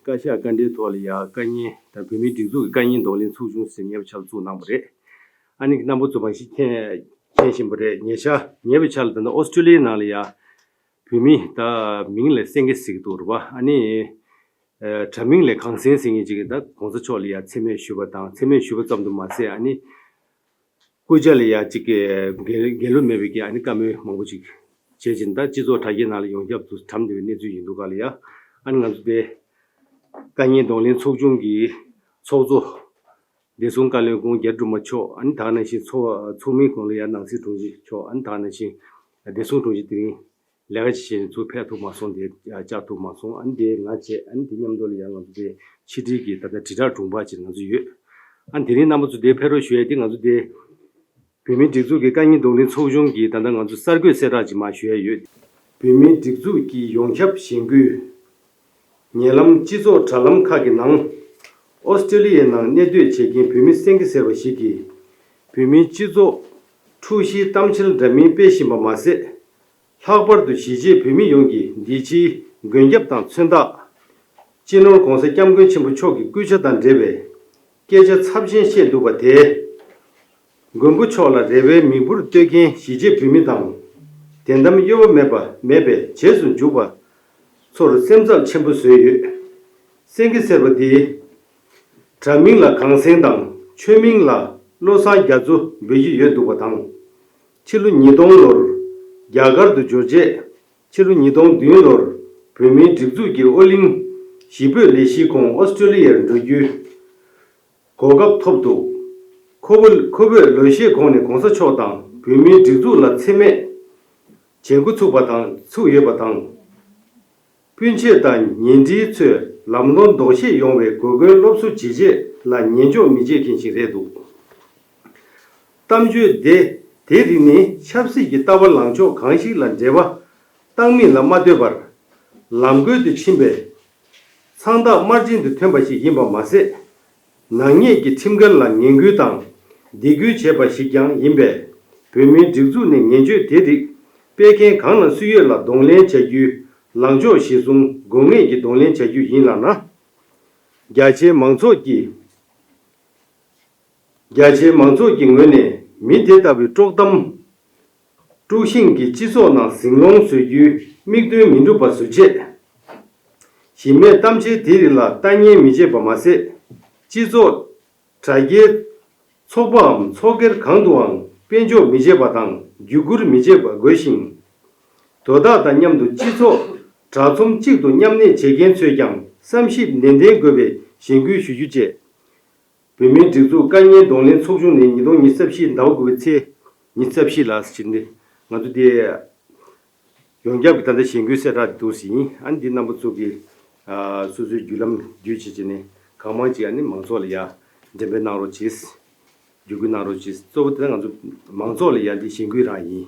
བཀའ་ཤག་བཀའ་འབྲེལ་ཐོག་ལ་ཡང་བཀའ་རྙིང་དང་བོད་མིའི་སྒྲིག་འཛུགས་ཀྱི་བཀའ་རྙིང་གདོང་ལེན་ཚུགས་ཆུང་ཟེར་ཉེ་བའི་ཆར་བཙུགས་གནང་བ་རེད། ཨ་ནི་གི་རྣམ་པ་ཚོ་མང་ཤེས་མཁྱེན་བཞིན་པ་རེད་ཉེ་ཆར་ཉེ་བའི་ཆར་ལ་ད་ནི་ཨོ་སྟྲེ་ལི་ཡའི་ནང་ལ་ཡང་བོད་མི་ད་མིང་ལ་སེང་གེ་ཟེར་གི་འདུག་རེད་བ་ཨ་ནི་དྲ་མིང་ལས་གངས་སེང་ཟེར་ངེས་ཅི་གི་ད་གོང་ས་མཆོག་ལ་ཡང་འཚེ་མེད་ཞུས་པ་དང་འཚེ་མེད་ཞུས་པ་ཙམ་དུ་མ་ཟད་ཨ་ནི་སྐུ་བཅར་ལ་ཡང་ཅིག་འགལ་ལོ་མེད་པའི་རྐྱེན་ཨ་ནི་བཀའ་མོལ་མང་པོ་ཅིག་བྱེད་ཅིང་དང་སྤྱི་ཚོགས་དྲ་རྒྱའི་ནང་ལ་ཡོངས་ཁྱབ་ཏུ་དྲམ་བདེ་བའི་གནས་ཚུལ་ཡིན་འདུག་ག་ལ་ཡ་ཨ་ནི་ང་ཚོ་དེ་ཀ་ཉེན་གདོང་ལེན་ཚོགས་ཆུང་གི་ཚོགས་གཙོ་བདེ་སྲུང་བཀའ་བློན་ཀུན་རྒྱལ་སྒྲོལ་མ་མཆོག་ཨ་ནི་དག་ནང་བཞིན་ཚོགས་མི་ཀུན་ལ་ཡ་ནང་སྲིད་དྲུང་ཆེ་མཆོག་ཨ་ནི་དག་ནང་བཞིན་བདེ་སྲུང་དྲུང་ཆེ་དེ་རིང་ལས་ཀ་ཇི་བྱས་ནས་ཚུར་ཕེབས་ཐུབ་མ་སོང་དེ་བཅར་ཐུབ་མ་སོང་ཨ་ནི་དེ་ང་བྱས་ཨ་ནི་དེ་མཉམ་འགྲོ་ལ་ཡང་ང་ཚོ་དེ་ཕྱི་དྲིལ་གྱི་ད་ལྟ་དྲིལ་བསྒྲགས་དྲུང་འཕར་ཅིག་ང་ཚོ་ཡོད་ཨ་ནི་དེ་རིང་རྣམ་པ་ཚོ་དེ་ཕེབས་རོགས་ཞུ་ཡ་དེ་ང་ཚོ་དེ་བོད་མིའི་སྒྲིག་འཛུགས་ཀྱི་བཀའ་རྙིང་རྡོག་འདྲིལ་ཚོགས་ཆུང་གིས་ད་ལྟ་ང་ཚོ་གསར་འགོད་གསལ་བསྒྲགས་ཅིག་མ་ཞུ་ཡ་ཡོད། བོད་མིའི་སྒྲིག་འཛུགས་ཀྱི་ཡོངས་ཁྱབ་གཞེན་སྐུལ། ཉེ་ལམ་སྤྱི་ཚོགས་དྲ་ལམ་ཁག་གི་ནང། ཨོ་སི་ཀྲི་ལི་ཡའི་ནང་གནས་སྡོད་བྱེད་མཁན་བོད་མི་སེང་གེ་ཟེར་བ་ཞིག་གིས། བོད་མིའི་སྤྱི་ཚོགས་ཁྲུའུ་བཞིའི་གཏམ་འཆལ་འདྲ་མིན་སྤེལ་བཞིན་པ་མ་ཟད། ལྷག་པར་དུ་གཞིས་བྱེས་བོད་མི་ཡོངས་ཀྱིས་འདི་ཕྱིའི་མགོན་སྐྱབས་དང་མཚོན་རྟགས། སྤྱི་ནོར ྋགོང་ས ྋསྐྱབས་མགོན་ཆེན་པོ་མཆོག་གི་སྐུལ་ཆ་དང་འབྲེལ་བའི་སྐད་ཆ་ཚབས་ཆེན་བཤད་འདུག་པ་དེས། མགོན་པོ་མཆོག་ལ་རེ་བའི་མིག་འབུར་གཏོད་མཁན་གཞིས་བྱེས་བོད་མི་དང། བདེན་གཏམ་གཡོ་བ་མེད་པ་མེད་པའི་རྗེས་སུ་འཇུག་པ་ཚོར་སེམས་འཚབ་ཆེན་པོ་བཟོས་ཡོད། སེང་གེ་སེར་པོ་དེའི་དྲ་མིང་ལ་གངས་སེང་དང་ཆོས་མིང་ལ་བློ་བཟང་རྒྱ་མཚོ་འབོད་ཀྱི་ཡོད་འདུག་པ་དང། ཕྱི་ལོ་ཉིས་སྟོང་ལོར་རྒྱ་གར་དུ་འབྱོར་རྗེས་ཕྱི་ལོ་ཉིས་སྟོང་བདུན་ལོར་བོད་མིའི་སྒྲིག་འཛུགས་ཀྱི་ཨོ་གླིང་གཞིས་སྤོས་ལས་གཞིའི་ཁོངས་ཨོསྟྲེ་ལི་ཡར་འགྲོ་རྒྱུའི་གོ་སྐབས་ཐོབ་འདུག་ཁོ་བོ་ཁོ་བོས་ལོ་ཤས་གོང་ནས་གོང་ས་མཆོག་དང་བོད་མིའི་སྒྲིག་འཛུགས་ལ་འཚེ་མེད་བྱེད་འགོ་ཚུགས་པ་དང་ཚུགས་ཡོད་པ་དང། སྤུན་མཆེད་དང་ཉེ་འབྲེལ་ཚོས་ལམ་ལྷོང་ལྡོག་ཤེས་ཡོང་བའི་གོ་སྐོན་སློབ་གསོ་བྱེད་ཆེད་ལ་ཉན་འཇོག་མི་བྱེད་མཁན་ཞིག་རེད་འདུག་གཏམ་བརྗོད་དེ་དེ་རིགས་ནི་ཆབ་སྲིད་ཀྱི་ལྟ་བ་ལངས་ཕྱོགས་གང་ཞིག་ལ་འབྲེལ་བ་བཏང་མིན་ལ་མ་ལྟོས་པར། ལམ་གོལ་དུ་ཕྱིན་པའི་ཚང་རྟགས་དམར་རྗེན་དུ་ཐོན་པ་ཞིག་ཡིན་པ་མ་ཟད། ནག་ཉེས་ཀྱི་ཁྲིམས་འགལ་ལ་ངན་སྐུལ་དང་སྡིག་སྐུལ་བྱས་པ་ཞིག་ཀྱང་ཡིན་པས། བོད་མིའི་སྒྲིག་འཛུགས་ནས་ངན་སྤྱོད་དེ་རིགས་སྤེལ་མཁན་གང་ན་སུ་ཡོད་ལ་གདོང་ལེན་བྱ་རྒྱུའི་ལངས་ཕྱོགས་གཞིར་བཟུང་དགོས་ངེས་ཀྱི་གདོང་ལེན་བྱ་རྒྱུ་ཡིན་ལགས་ན། རྒྱ་ཆེའི་མང་ཚོགས་ཀྱིས། རྒྱ་ཆེའི་མང་ཚོགས་ཀྱི་ངོས་ནས་མི་དེ་ལྟ་བུའི་དཀྲོག་གཏམ། དཀྲུག་ཤིང་གིས་སྤྱི་ཚོགས་ནང་ཟིང་སློང་བཟོ་རྒྱུའི་དམིགས་འདུན་མི་འགྲུབ་པ་བཟོ་ཆེད། གཞི་མེད་གཏམ་འཆལ་དེའི་རིགས་ལ་ལྟ་ཉན་མི་བྱེད་པ་མ་ཟད། སྤྱི་ཚོགས། དྲ་རྒྱའི། ཚོགས་པའམ་ཚོགས་སྒེར་གང་དུའང་དཔེ་འཇོག་མི་བྱེད་པ་དང་བརྒྱུད་སྐུར་མི་བྱེད་པ་དགོས་ཤིང། དོ་བདག་དང་མཉམ་དུ་སྤྱི་ཚོགས་དྲ་ཚོམས་གཅིག་ཏུ་མཉམ་གནས་བྱེད་མཁན་ཚོས་ཀྱང་བསམ་ཞིབ་ནན་ཏན་དགོས་པའི་གཞེན་སྐུལ་ཞུ་རྒྱུ་བཅས། བོད་མིའི་སྒྲིག་འཛུགས་བཀའ་ཉན་གདོང་ལེན་ཚོགས་ཆུང་ནས་ཉིས་སྟོང་ཉིས་བརྩེ་བཞི་ཟླ་བ་དགུ་པའི་ཚེས་ཉིན་བརྩེ་བཞི་ལ་ཕྱིར་འདི་ང་ཚོ་དེ་ཡོངས་ཁྱབ་ཀྱི་ད་ལྟ་གཞེན་སྐུལ་གསལ་བསྒྲགས་འདི་བསྡུར་ཟིན་ཨ་འདི་རྣམ་པ་ཚོ་གི་སོ་སོའི་བརྒྱུད་ལམ་བརྒྱུད་བྱེད་བྱེད་ནས་གང་མང་ཅིག་ཨ་ནི་མང་ཚོགས་ལ་ཡ་འགྲེམས་པའི་གནང་རོགས་བྱེད་བརྒྱུད་སྐུལ་གནང་རོགས་བྱེད་གཙོ་བོ་དེ་ང་ཚོ་མང་ཚོགས་ལ་ཡ་འདི་གཞེན་སྐུལ་རང་ཡིན།